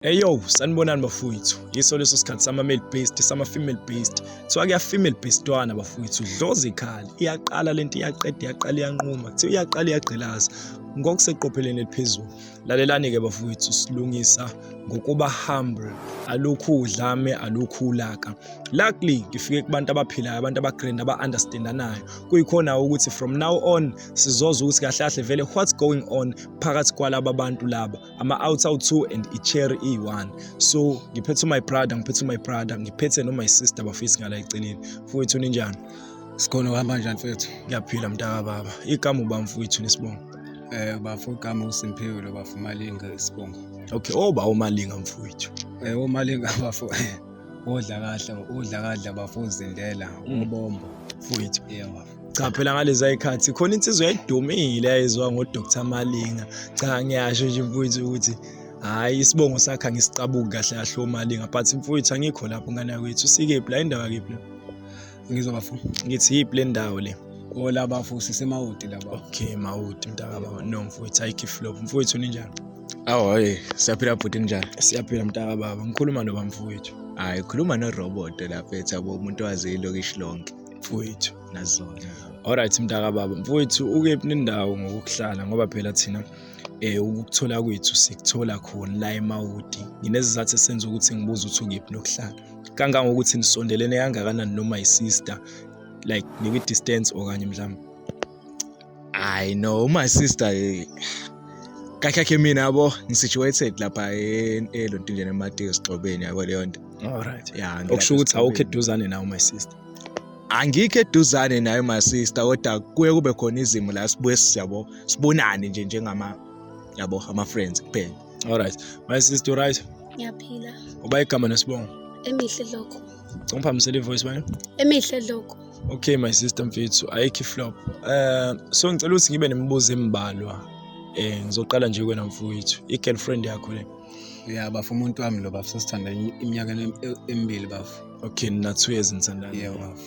Eyo, sanibonani bafowethu. Yiso leso sikhathi sama male based, sama female based. Kuthiwa kuya female based twana bafowethu, dloza ikhali. Iyaqala lento iyaqeda, iyaqala iyanquma. Kuthiwa iyaqala iyagqilaza. Ngokuseqopheleni eliphezulu. Lalelani ke bafowethu silungisa ngokuba humble. Alokhu udlame, alokhu ulaka. Luckily ngifike kubantu abaphilayo, abantu abagrand aba understandanayo. Kuyikhona ukuthi from now on sizoza ukuthi kahle kahle vele what's going on phakathi kwalaba bantu laba. ama-outs awu-two and i-cherry iyi-one so ngiphethe u-my brother ngiphethe u-my brother ngiphethe no-my sister bafisi ngala eceleni mfowethu ninjani sikhona kuhamba njani mfethu ngiyaphila mntaka baba igama uba mfowethu nesibongo um eh, bafo igama usimphiwe lo bafo umalinga isibongo okay oba oh, umalinga mfowethu um eh, umalinga bafo odla kahle odla kadla bafo uzindela mm. ubombo mfowethu yeah, cha phela ngalezi ayikhathi khona insizwa yayidumile yayizwa ngodr malinga cha ngiyasho nje mfowethu ukuthi hhayi isibongo sakhe angisiqabuki kahle kahle omalinga but mfowethu angikho lapho ngane yakwethu usikephi la indawo yakephi la ngizwa bafo ngithi yiphi le ndawo le ola bafo sisemawoti laba okay mawoti mntaka baba no mfowethu ayikho iflop mfowethu ninjani awu hayi siyaphila bhuti ninjani siyaphila mntaka baba ngikhuluma noba mfowethu hhayi khuluma norobot lapha ethi abo umuntu waze ilokishi lonke mfowethu nazona alright mntaka baba mfowethu ukephi nendawo ngokuhlala ngoba phela thina eh ukuthola kwethu sikuthola khona la eMawudi nginezizathu esenza ukuthi ngibuze ukuthi ukephi nokuhlala kangangokuthi nisondelene kangakanani noma isister like nikwi distance okanye mhlawumbe I know my sister eh, kahle kahle mina yabo ngisituated lapha elontindeni ematiko sigxobeni yabo leyo nto all right yeah okusho ukuthi awukho eduzane nawo my sister angikho eduzane nayo my sister kodwa kuye kube khona izimo la sibuye siyabo sibonane nje njengama yabo ama friends kuphela all right my sister right ngiyaphila uba igama nesibongo emihle lokho ngomphamisela ivoice bani emihle lokho okay my sister mfethu ayikho iflop um so ngicela ukuthi ngibe nemibuzo embalwa um ngizoqala nje kwena mfowethu i-girlfriend yakho le ya bafo umuntu wami lo bafo sesithanda iminyaka emibili bafo okay nina-two years nithandana yeah, bafo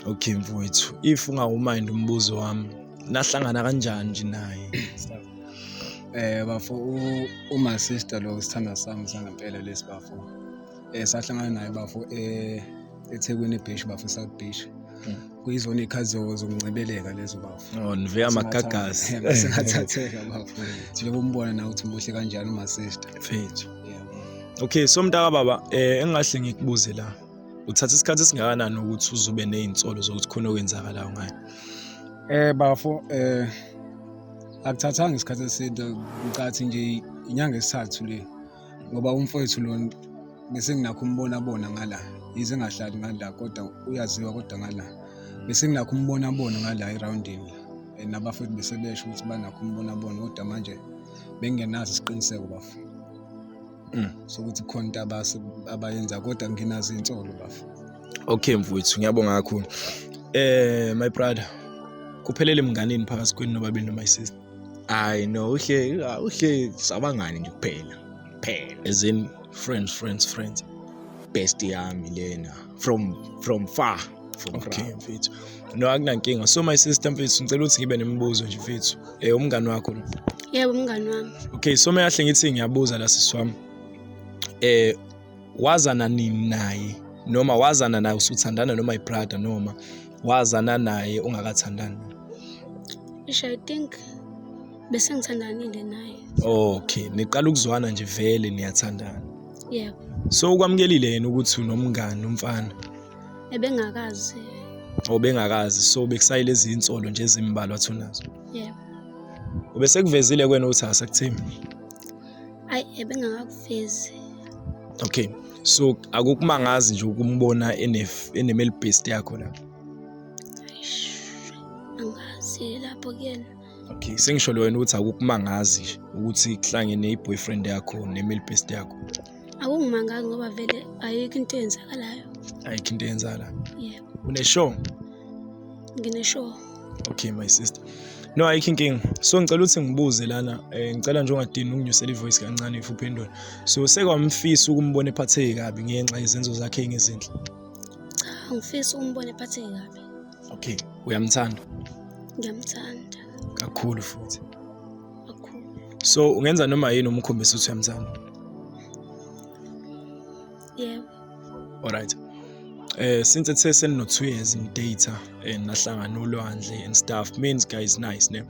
okay mfowethu if ungawumind umbuzo wami nahlangana kanjani nje naye um bafo uma sister lo sithanda sami sangempela lesi bafo Eh sahlangana naye bafo eh eThekwini eBeach bafo South Beach. Hmm. Kuyizona ikhathi zokuncebeleka lezo bafo. Oh nive amagagasi. Eh, Singathatheka bafo. Njengoba umbona na ukuthi muhle kanjani uma sister. Mfethu. Okay so mntaka baba eh engahle ngikubuze la. Uthatha isikhathi esingakanani ukuthi uzube nezinsolo zokuthi khona okwenzakalayo ngayo? Eh bafo eh akuthathanga isikhathi eside ngicathi nje inyanga esithathu le ngoba umfowethu lo bese nginakho umbona bona ngala yize engahlali ngala kodwa uyaziwa kodwa ngala bese nginakho umbona bona ngala erawundini eh, nabafowethu bese besho ukuthi banakho umbona bona kodwa manje bengenazi isiqiniseko bafo mm. sokuthi khona into abayenza kodwa nginazo iy'nsolo bafo okay mfowethu ngiyabonga kakhulu eh my brother kuphelele mnganini phakathi kwenu nobabili noma isister hayi no uhle uhle sabangani nje kuphela kuphela as in friends friends friends best yami lena from from far from okay mfethu no akunankinga so my sister mfethu ngicela ukuthi ngibe nemibuzo nje mfethu eh umngani wakho lo yebo umngani wami okay so meyahle ngithi ngiyabuza la sisi wami eh wazana nini naye noma wazana naye usuthandana noma ibrada noma wazana naye ungakathandani isho i think bese ngithandanile naye okay niqala ukuzwana nje vele niyathandana yebo so ukwamukelile yena ukuthi unomngani umfana ebengakazi obengakazi so bekusayile izinsolo nje ezimbalwa thunazo yebo ubesekuvezile kwena ukuthi asakuthembi ayi ebengakakufezi okay so akukumangazi nje ukumbona enemel best yakho la angazi lapho kuyena okay sengisho lo wena ukuthi akukumangazi nje ukuthi kuhlangene i-boyfriend yakho nemel best yakho akungimangazi ngoba vele ayikho into eyenzakalayo ayikho into eyenzakalayo yebo yeah. uneshow ngineshow okay my sister no ayikho inkinga so ngicela ukuthi ngibuze lana um ngicela nje ungadini unginyusela ivoice kancane if uphendula so sekwamfisa ukumbona ephatheke kabi ngenxa yezenzo zakhe engezinhle cha ngifisa ukumbona ephatheke kabi okay uyamthanda ngiyamthanda kakhulu futhi kakhulu so ungenza noma yini umkhombisa ukuthi uyamthanda Yebo. Alright. Eh since it says no 2 years in data and nahlangana olwandle and stuff means guys nice ne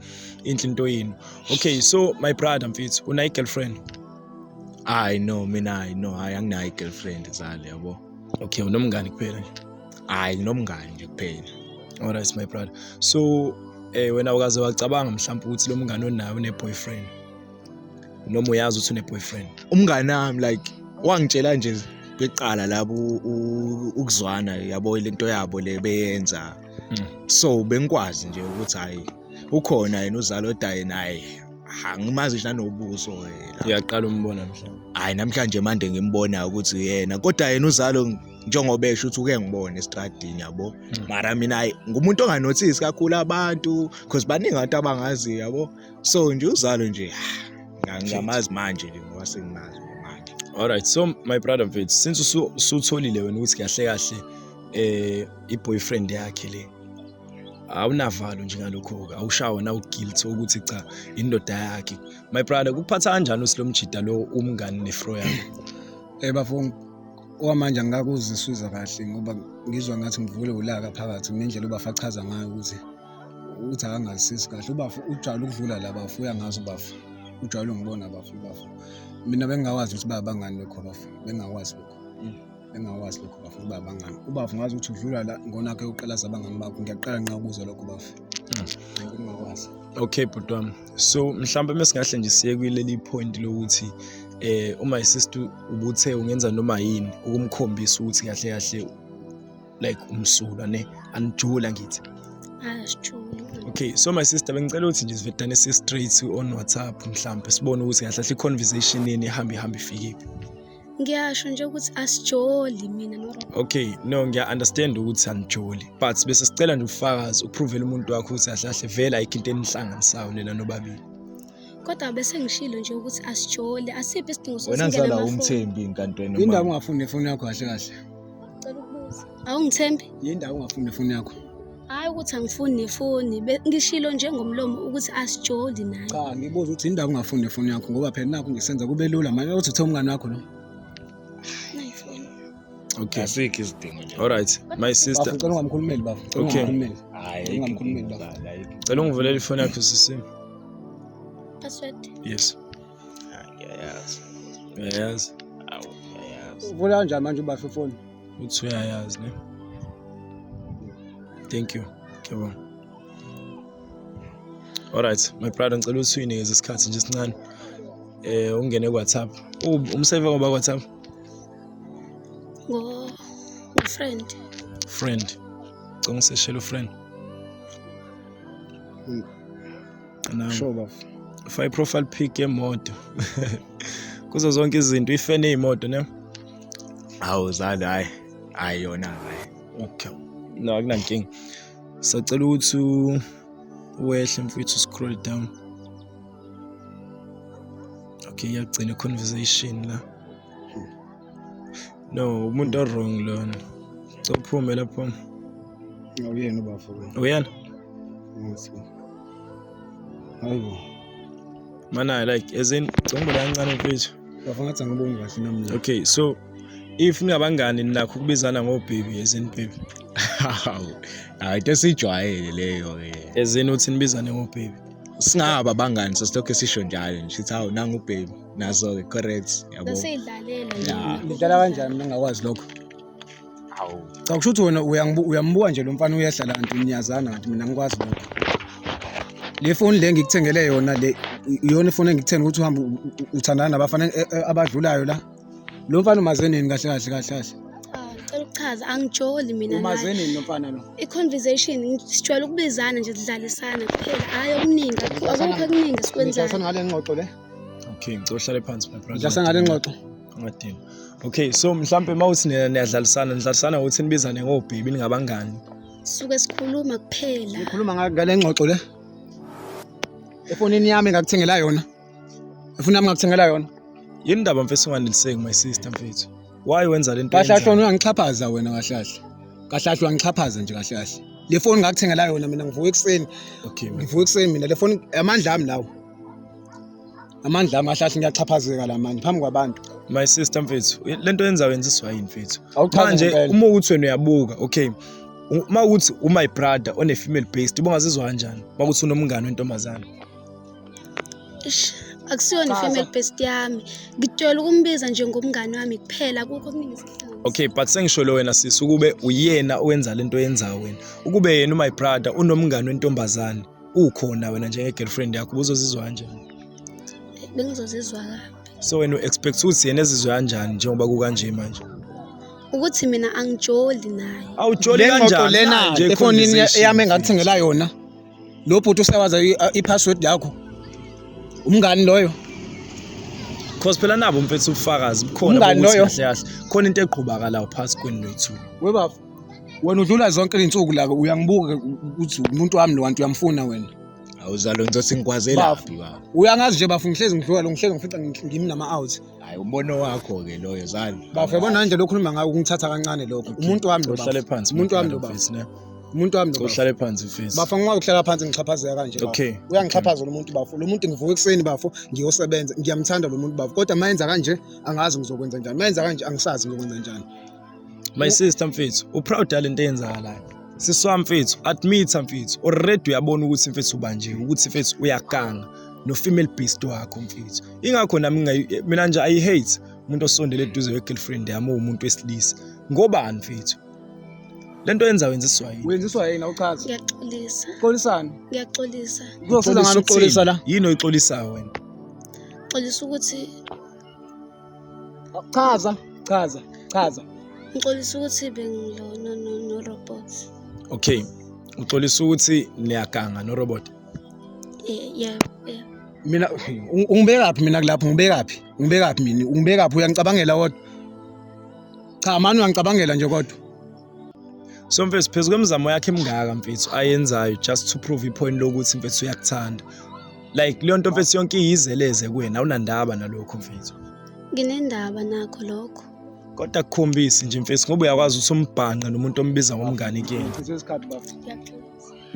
inhle into yenu. Okay so my brother mfethu una girlfriend? Hayi no mina hayi no hayi anginayo girlfriend zale yabo. Okay unomngani kuphela nje. Hayi nginomngani nje kuphela. Alright my brother. So eh wena ukaze wacabanga mhlawumbe ukuthi lo mngani onayo une boyfriend? noma uyazi ukuthi une-boyfriend umngane wami like wangitshela nje beqala labo ukuzwana yabo le nto yabo le beyenza hmm. so bengikwazi nje ukuthi hhayi ukhona yena uzalo odaye naye angimazi nje nanobuso yena uyaqala umbona mhlawumbe hayi namhlanje manje ngimbona ukuthi yena kodwa yena uzalo njengoba esho ukuthi uke ngibone estradini yabo hmm. mara mina hayi ngumuntu onganothisi kakhulu abantu because baningi abantu abangaziyo yabo so nje uzalo nje ah, ngamazi manje ke ngoba sengimazi manje all right so my brother mfethu since usutholile wena ukuthi kahle kahle eh iboyfriend yakhe le awunavalo nje ngalokho-ke awushawa nawugilty ukuthi cha indoda yakhe my brother kuphatha kanjani usilo mjida lo umngani nefro yakho um eh, bafo okwamanje angikakuziswiza kahle ngoba ngizwa ngathi ngivule ulaka phakathi ngendlela ubafachaza ngayo ukuthi ukuthi akangazisisi kahle ubafo ujwayele ukudlula la bafo uyangazi ubafo ujwayele ungibona bafo ubafo mina bengingawazi ukuthi baba bangani lokho bafo bengingawazi lokho bengingawazi lokho bafo ukuthi baba bangani ubafo ngazi ukuthi udlula la ngonakhe uqalaza abangani bakho ngiyaqala nqa ukuzwa lokho bafo bengingawazi okay bhuti wami so mhlawumbe mesingahle nje siye kwileli point lokuthi eh uma isistu ubuthe ungenza noma yini ukumkhombisa ukuthi kahle kahle like umsulwa ne anijula ngithi asijuli okay so my sister bengicela ukuthi nje sivedane si straight on WhatsApp mhlawumbe sibone ukuthi kahle kahle conversation yeni ihamba ihamba ifikephi ngiyasho nje ukuthi asijoli mina no okay no ngiya understand ukuthi anijoli but bese sicela nje ufakazi uprove umuntu wakho ukuthi kahle kahle vele ayikho into enihlanganisayo nina nobabili kodwa bese ngishilo nje ukuthi asijole asiphi isidingo wena sokusingena zala amafoni umthembi inkantweni indaba ungafuni nefoni yakho kahle kahle Ngicela ukubuza. Awungithembi? Yini ndawo ungafuni nefoni yakho? Hayi ukuthi angifuni nefoni. Be- Ngishilo nje ngomlomo ukuthi asijoli naye. Cha, ngibuza ukuthi yini ndawo ungafuni nefoni yakho ngoba phela nakho ngisenza kube lula manje uthi uthe umngane wakho lo. Nayi foni. Okay. asikho isidingo nje Alright. My sister. Bafu cela ungamkhulumeli bafu. Cela Okay. ungamkhulumeli. hayi ayikho Ungamkhulumeli inkinga, baba. ayikho Cela ungivulela ifoni yakho sisi. Password. Yes. Ngiyayazi. Uyayazi? Awu, ngiyayazi. Uvula kanjani manje ubasho ifoni? Uthi uyayazi ne? Thank you. Ngiyabonga. Alright, my brother ngicela ukuthi uyinikeze isikhathi nje sincane. Eh ungene ku-WhatsApp. U- Umseve ngoba ku-WhatsApp? Ngo friend. Friend. Ngicela ungiseshele ufriend. sure bafo fake profile pic yemoto kuzo zonke izinto ifene imoto ne hawu zali hayi hayi yona hayi okay no akunankinga sacela ukuthi wehle mfowethu scroll down okay iyagcina conversation la no umuntu owrong lona cophume lapho uyena ubafo uyena hayibo mana like as in congibona kancane mfethu bafo ngathi angiboni kahle namna okay so if ningabangani ninakho ukubizana ngobhebi ezini bhebi hayi into esiyijwayele leyo-ke ezini uthi nibizane ngobhebi singaba bangani sesilokhu esisho njalo nje sithi hawu nangubhebi nazo-ke correct yabo Naseyidlalela nje. Ya. lidlala kanjani mina ngingakwazi lokho Hawu. cha kusho ukuthi wena uyangibu- uyambuka nje lo mfana uyehla la nto niyazana kanti mina ngikwazi lokho le foni le ngikuthengele yona le i- iyona ifoni engikuthenge ukuthi uhambe u- u- uthandana nabafana e- e- abadlulayo la lo mfana umaze nini kahle kahle kahle kahle Ah, Ngicela ukuchaza angijoli mina umaze naye. nini lo mfana lo I-conversation sijwayele ukubizana nje sidlalisana kuphela. Hhayi okuningi akukho Nidlalisana- okuningi nidlalisana esikwenzayo. ngale ngxoxo le okay ngicela uhlale phansi my brother ngidlasa ngale ngxoxo ngadini okay so mhlampe uma uthi niyadlalisana nidlalisana ukuthi nibizane ngobhebi ningabangani suke sikhuluma kuphela ngikhuluma ngale ngxoxo le efonini yami ngakuthengela yona efuna yami ngakuthengela yona yini ndaba mfethu unganeliseki my sister mfethu why wenza lento kahlahla wena ungixhaphaza wena kahlahla kahlahla ungixhaphaza nje kahlahla le foni ngakuthengela yona mina ngivuka ekuseni okay ngivuka ekuseni mina le foni amandla ami lawo amandla amahle athi ngiyaxhaphazeka la manje phambi kwabantu my sister mfethu lento yenza wenza iswayini mfethu manje uma ukuthi wena uyabuka okay uma ukuthi umy brother one female based ubungazizwa kanjani uma ukuthi unomngane wentombazana ish akusiyona female based yami ngitshela ukumbiza nje ngomngane wami kuphela kukho okuningi okay but sengisholo wena sisi ukube uyena owenza lento yenza wena ukube yena umy brother unomngane wentombazana ukhona wena njenge girlfriend yakho ubuzozizwa kanjani bengizozizwa kabi so wena u-expect ukuthi yena ezizwe kanjani njengoba kukanje manje ukuthi mina angijoli naye awujoli le ngxoxo kanjani lena Nje efonini conversation. yami engathengela yona lo bhuti usewaza i- i-password yakho umngani loyo cause phela nabo mfethu ubufakazi bukhona Umngani bokuthi loyo. kahle kahle khona into egqubakalayo phasi kwenu noyi-two webafo wena udlula zonke izinsuku la uyangibuka ukuthi umuntu wami lo wantu uyamfuna wena awuzalo ngizothi ngikwazela Bafo. phi baba uyangazi nje bafo ngihlezi ngidlula lo ngihlezi ngifica ngi- ngimi nama out hayi umbono wakho ke loyo zalo bafo yabona nanje lokhu khuluma ngayo kungithatha kancane lokho umuntu wami lo uhlale bafo phansi umuntu wami lo bafo mfethu, ne? umuntu wami lo bafo uhlale phansi mfethu bafo ngingwa ukuhlala phansi ngixhaphazeka kanje bafo. Okay. uyangixhaphaza lo muntu bafo lo muntu ngivuka ekuseni bafo ngiyosebenza ngiyamthanda lo muntu bafo kodwa mayenza kanje angazi ngizokwenza njani mayenza kanje angisazi ngizokwenza njani my sister mfethu uproud yale nto eyenzakalayo sisi wami mfethu admit mfethu already uyabona ukuthi mfethu ubanjiwe ukuthi mfethu uyaganga no-female beast wakho mfethu ingakho nami mina nje ayi-hate umuntu osondele eduze we-girlfriend yami uwumuntu wesilisa ngobani mfethu le nto yenza wenziswa yini wenziswa yini awuchazi ngiyaxolisa xolisani ngiyaxolisa kuzosiza ngani ukuxolisa la yini oyixolisayo wena xolisa ukuthi Chaza, chaza, chaza. Ngixolisa ukuthi bengilona no no robot. Okay. Uxolisa ukuthi niyaganga no robot. Eh, yeah, yeah. Mina ungibekaphi mina kulapho ngibekaphi? Ungibekaphi mina? Ungibekaphi uyangicabangela kodwa? Cha mani uyangicabangela nje kodwa. So mfethu phezu kwemizamo yakhe emingaka mfethu ayenzayo just to prove ipoint lokuthi mfethu uyakuthanda. like leyo nto mfethu yonke iyizeleze kuwena awunandaba nalokho mfethu nginendaba nakho lokho kodwa kukhombisi nje mfethu ngoba uyakwazi ukuthi umbhanqe nomuntu ombiza ngomngane kuyena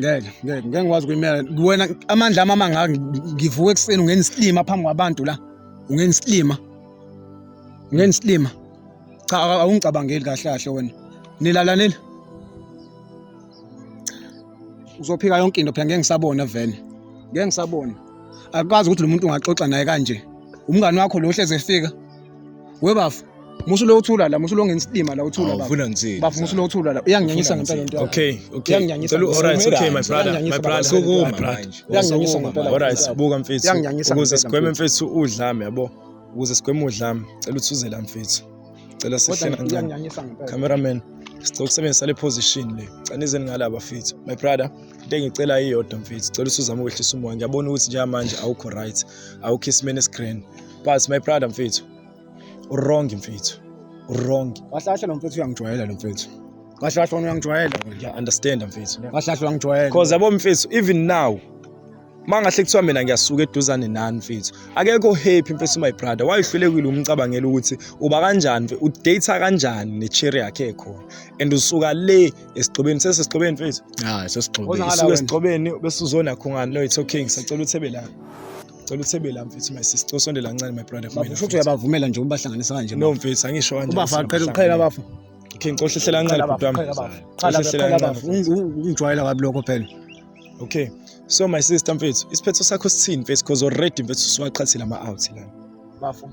ngeke ngeke ngeke ngikwazi kuyimela kuwena amandla ami amangaka ngivuka ekuseni ungena isilima phambi kwabantu la ungena isilima ungena isilima cha awungicabangeli kahle kahle wena nilalanile uzophika yonke into phela ngeke ngisabona vele ngeke ngisabona akwazi ukuthi lo muntu ungaxoxa naye kanje umngani wakho lo hleze efika webafu musu lo uthula la musu lo ngensidima la uthula baba ufuna ngithini bafu musu lo uthula la uyanginyanyisa ngempela into okay okay uyanginyanyisa ngicela alright okay my brother my brother sokuma manje uyanginyanyisa ngempela alright buka mfethu ukuze sigweme mfethu udlame yabo ukuze sigweme udlame cela uthuzela mfethu cela sihle kancane cameraman sicela ukusebenzisa le position le cela nizeni ngala bafethu my brother into engicela iyodwa mfethu cela usuzame ukwehlisa umoya ngiyabona ukuthi njengamanje awukho right awukho isimeni esigrand but my brother mfethu uwrong mfethu uwrong kahle kahle lo mfethu uyangijwayela lo mfethu kahle kahle wona uyangijwayela ngiya understand mfethu kahle kahle uyangijwayela because yabo mfethu even now mangahle kuthiwa mina ngiyasuka eduzane nani mfethu akekho happy mfethu my brother wayehlulekile umcabangela ukuthi uba kanjani mfethu udata kanjani necherry yakhe ekhona and usuka le esigxobeni sesesigxobeni mfethu hayi sesigxobeni usuka esigxobeni bese uzona khungani lo it's okay ngisacela uthebe la ngicela uthebe la mfethu my sister usondela kancane my brother kumina futhi uyabavumela nje ubahlanganisa kanje no mfethu angisho kanje ubafa qhela uqhela abafu okay ngicela uhlela kancane bhuti wami qhela qhela abafu ungijwayela kabi lokho phela okay so my sister mfethu isiphetho sakho sithini mfethu because already mfethu siwaqhathile ama-out lana bafo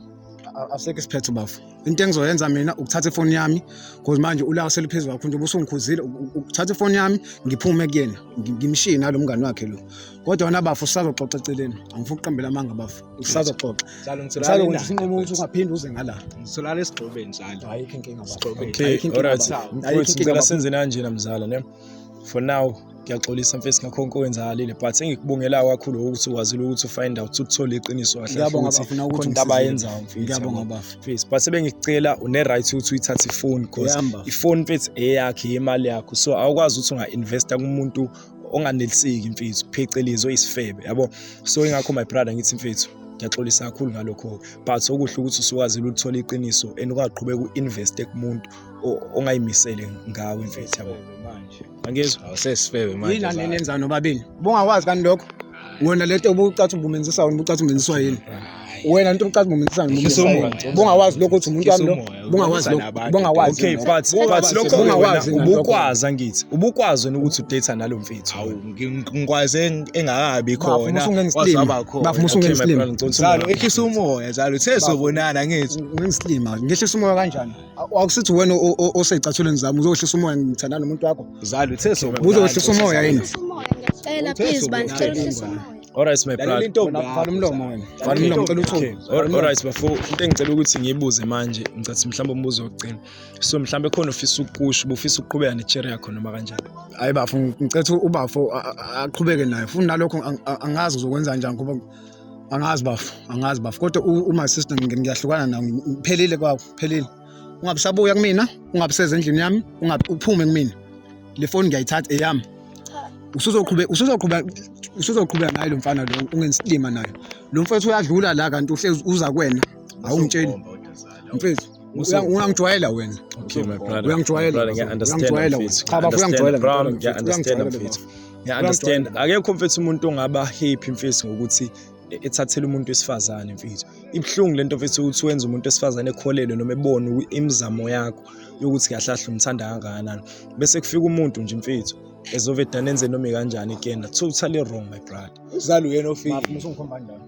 asekho isiphetho bafo into engizoyenza mina ukuthatha ifoni yami because manje ulaka seluphezu kwakho nje ubusungikhuzile ukuthatha ifoni yami ngiphume kuyena ngimshiye nalo mngani wakhe lo kodwa wena bafo usazoxoxa eceleni angifuni ukuqambela amanga bafo usazoxoxa usazokwenza isinqumo ukuthi ungaphinde uze ngala ngitholala esigxobeni njalo ayikho inkinga bafo okay alright mfowethu ngicela senze kanjena mzala ne for now ngiyaxolisa mfesi ngakho konke owenzakalile but engikubongela kakhulu ukuthi wazile ukuthi ufind out ukuthi uthole iqiniso kahleinto abayenzayo mfesi but sebengicela une-right ukuthi uyithathe ifoni because ifoni mfethu eyakhe yemali yakho so awukwazi ukuthi unga-investa kumuntu onganeliseki mfethu phecelezi oyisifebe yabo so ingakho my brother ngithi mfethu ngiyaxolisa kakhulu ngalokho but okuhle ukuthi usukwazile ulithola iqiniso and ungaqhubeka u-investe kumuntu ongayimisele ngawe mfethu yabo manje angizwa awusesifebe manje yini anenenzani nobabini bungakwazi kani lokho wena lento obucathi ubumenzisa wena ubucathi umenziswa yini wena into obucathi ubumenzisa wena bungawazi lokho ukuthi umuntu wami lo bungawazi lokho bungawazi okay but but lokho bungawazi ubukwazi angithi ubukwazi wena ukuthi udate nalo mfethu awu ngikwazi engakabi khona wasaba khona bafuna usungenza islima zalo ehlisa umoya zalo sesizobonana ngithi ngenza islima ngehlisa umoya kanjani akusithi wena oseyicathulweni zami uzowehlisa umoya ngithandana nomuntu wakho zalo uthe so uzowehlisa umoya yini cela please bandla cela uhlisa umoya Alright my brother. Intombi vala umlomo wena. Vala umlomo cela uthume. Alright bafo, into engicela ukuthi ngiyibuze manje, ngicathi mhlawumbe umbuzo wokugcina. So mhlawumbe khona ufisa ukukusho, ubufisa ukuqhubeka necherry yakho noma kanjani. Hayi bafo, ngicela ubafo aqhubeke naye. Funa nalokho angazi uzokwenza kanjani ngoba angazi bafo angazi bafo kodwa uma sister ngiyahlukana nawo ngiphelile kwakho phelile ungabe sabuya kumina ungabe seze endlini yami ungabe uphume kumina le foni ngiyayithatha eyami usuzoqhubeka usuzoqhubeka usuzoqhubeka naye lo mfana lo ungensilima naye lo mfethu uyadlula la kanti uhlezi uza kwena awungitsheli mfethu uyangijwayela wena uyangijwayela uyangijwayela cha bafo uyangijwayela uyangijwayela Yeah, understand. Akekho mfethu umuntu ongaba happy mfethu ngokuthi e-, ethathele umuntu wesifazane mfethu. Ibhlungu lento mfethu ukuthi wenza umuntu wesifazane ekholelwe noma ebone imizamo yakho yokuthi kahle kahle umthanda kangakanani. Bese kufika umuntu nje mfethu ezoveda nenze noma kanjani ikenda. Totally wrong my brother. Uzalo uyena ofika. Mafuna usungikhomba njalo.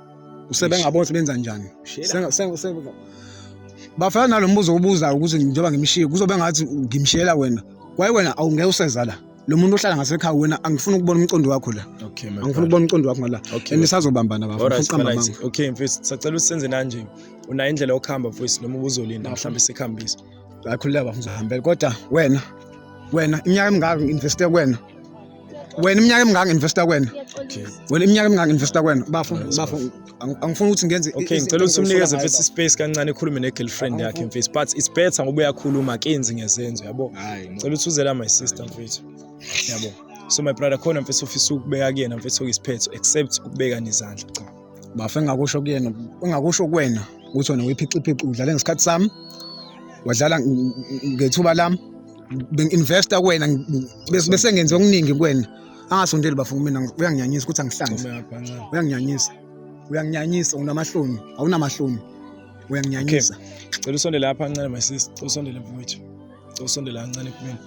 usebengabona sebenza njani bafana nalo mbuzo obuzayo ukuthi njengoba ngimshiye kuzobe ngathi ngimshiyela wena kwaye wena awungeke useza la lo muntu ohlala ngasekhaya wena angifuni ukubona umcondo wakho la okay, angifuni ukubona umcondo wakho ngala okay. and isazobambana bafo right, uqamba right. manga okay mfethu sacela usenze nanje unayo indlela yokuhamba mfethu noma ubuzolinda mhlawumbe sikhambise akhuleka bafo ngizahambela kodwa wena wena iminyaka emingaka ngi-investe kwena wena iminyaka emingaka investa kwena wena iminyaka emingaka investa kwena bafo bafo angifuni ukuthi ngenze okay ngicela ukuthi umnikeze futhi space kancane ekhulume ne girlfriend yakhe mfethu but it's better ngoba uyakhuluma kenzi ngezenzo yabo ngicela ukuthi uzela my sister mfethu yabo so my brother khona mfethu ofisa ukubeka kuyena mfethu okisiphetho except ukubeka nezandla cha Bafo engakusho kuyena engakusho kuwena ukuthi wena uyiphixiphixi udlale ngesikhathi sami wadlala ngethuba lami bengi-investa kuwena bese ngenze okuningi kuwena angasondeli bafo kumina uyanginyanyisa ukuthi angihlanze uyanginyanyisa uyanginyanyisa unamahloni awunamahloni uyanginyanyisa cela usondele lapha ncane my sister cela usondele mfowethu cela usondele kancane kumina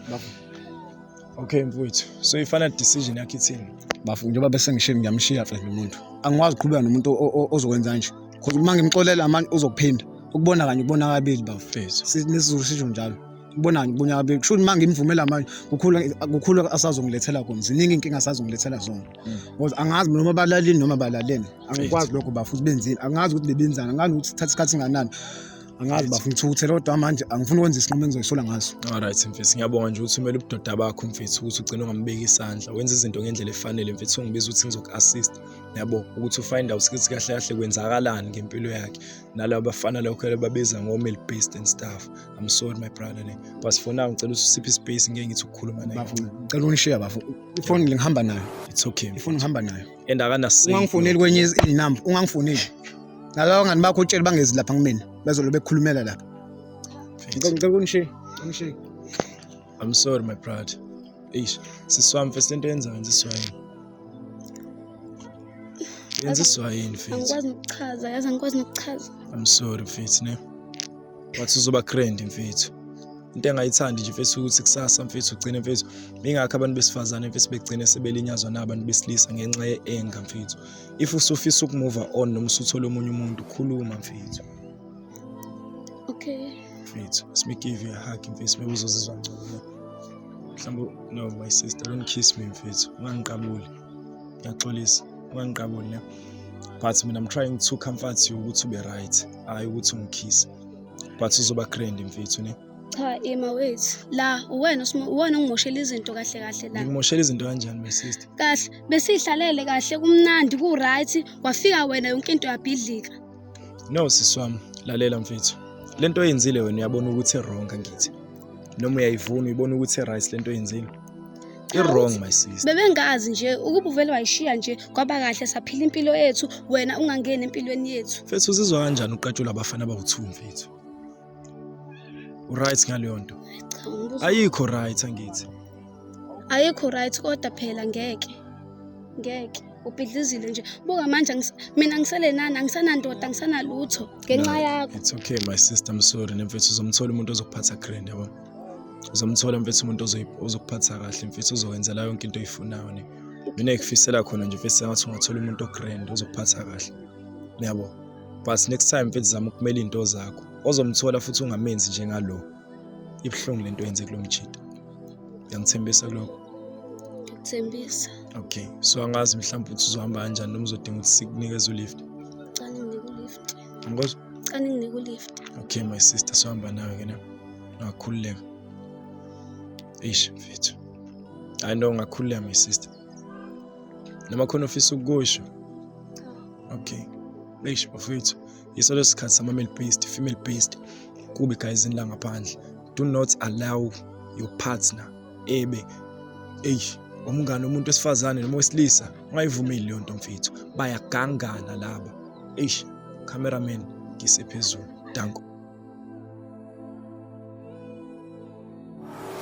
Okay mfowethu, so i-final decision yakho ithini? Bafu njengoba bese ngishiye ngiyamshiya mfethu umuntu. Angikwazi ukuqhubeka nomuntu o- o- ozokwenza nje. Cause uma ngimxolela manje uzokuphinda. Ukubona kanye ukubona kabili bafu. Mfethu. Si- NesiZulu sisho njalo. Ukubona kanye ukubona kabili. Kusho ukuthi uma ngimvumela manje kukhulu kukhulu asazongilethela kona. Ziningi inkinga asazongilethela zona. Mm. Ngoba angazi noma balalini noma balaleni. Angikwazi lokho bafu ukuthi benzini. Angazi ukuthi bebenzani. Angazi ukuthi thatha isikhathi singanani. angazi Right. bafuna ukuthukuthela kodwa manje angifuni ukwenza isinqumo engizoyisola ngaso Alright mfethu ngiyabonga nje ukuthi umele ubudoda bakho mfethu ukuthi ugcine ungambeki isandla wenza izinto ngendlela efanele mfethu ungibiza ukuthi ngizoku-assist yabo ukuthi ufind out ukuthi kahle kahle kwenzakalani ngempilo yakhe nalabo bafana lokho ababiza ngo-male based and stuff i'm sorry my brother ne but for now ngicela ukuthi usiphe ispace ngeke ngithi ukukhuluma naye bafo ngicela ungishiya bafo ifoni ngihamba nayo it's okay ifoni ngihamba nayo and akanasini ungangifoneli kwenye inamba ungangifoneli nalaba ngani bakho utshele bangezi lapha kumina bezolo bekhulumela lapha ngicela ngicela unishiye unishiye i'm sorry my brother eish siswami mfethu lento yenza wenza iswayini yenza iswayini mfethu angikwazi nokuchaza yazi angikwazi nokuchaza i'm sorry mfethu ne wathi uzoba grand mfethu into engayithandi nje mfethu ukuthi kusasa mfethu ugcine mfethu ingakho abantu besifazane mfethu begcine sebelinyazwa nabantu besilisa ngenxa ye-enga mfethu if usufisa ukumuva on noma usuthole omunye umuntu khuluma mfethu okay mfethu let me give you a hug mfethu maybe uzozizwa ngcono mhlawumbe no my sister don't kiss me mfethu ungangiqabuli ngiyaxolisa ungangiqabuli ne but mina i'm trying to comfort you ukuthi ube right hhayi ukuthi ungikhise but uzoba grand mfethu ne cha ima wethu la uwena uwena ongimoshela izinto kahle kahle la ngimoshela izinto kanjani my sister kahle besihlalele kahle kumnandi ku right wafika wena yonke into yabhidlika no siswami lalela mfethu lento oyenzile wena uyabona ukuthi wrong ngithi noma uyayivuna uyibona ukuthi right lento oyenzile i-wrong my sister bebengazi nje ukuba uvele wayishiya nje kwaba kahle saphila impilo yethu wena ungangeni empilweni yethu mfethu uzizwa kanjani uqatshula abafana abawu-two mfethu uright ngaleyo nto Cha, ngibuza- ayikho right angithi ayikho right kodwa phela ngeke ngeke ubhidlizile nje buka manje angis- mina ngisele nani angisanandoda angisanalutho ngenxa No, yakho it's okay my sister i'm sorry nemfethu uzomthola umuntu ozokuphatha grand yabo uzomthola mfethu umuntu ozokuphatha kahle mfethu uzokwenzela yonke into oyifunayo ne mina ngikufisela khona nje mfethu sengathi ungathola umuntu ogrand ozokuphatha kahle niyabo but next time mfethu zama ukumela izinto zakho ozomthola futhi ungamenzi njengalo ibuhlungu lento yenze kulo mjita ngiyangithembisa kuloko thembisa okay so angazi mhlawumbe ukuthi uzohamba kanjani noma uzodinga ukuthi sikunikeze ulift Ngikwazi. Cha ninginike ulift. Okay my sister sohamba nawe ke na. Ngakhululeka. Eish mfethu. Hayi no ngakhululeka my sister. Noma khona ofisa ukusho. Okay. Eish mfethu. Yiso lesikhathi sama male based, female based. Kubi guys in la ngaphandle. Do not allow your partner ebe eish umngane umuntu wesifazane noma wesilisa ungayivumeli leyo nto mfethu bayagangana laba eish cameraman ngise phezulu danko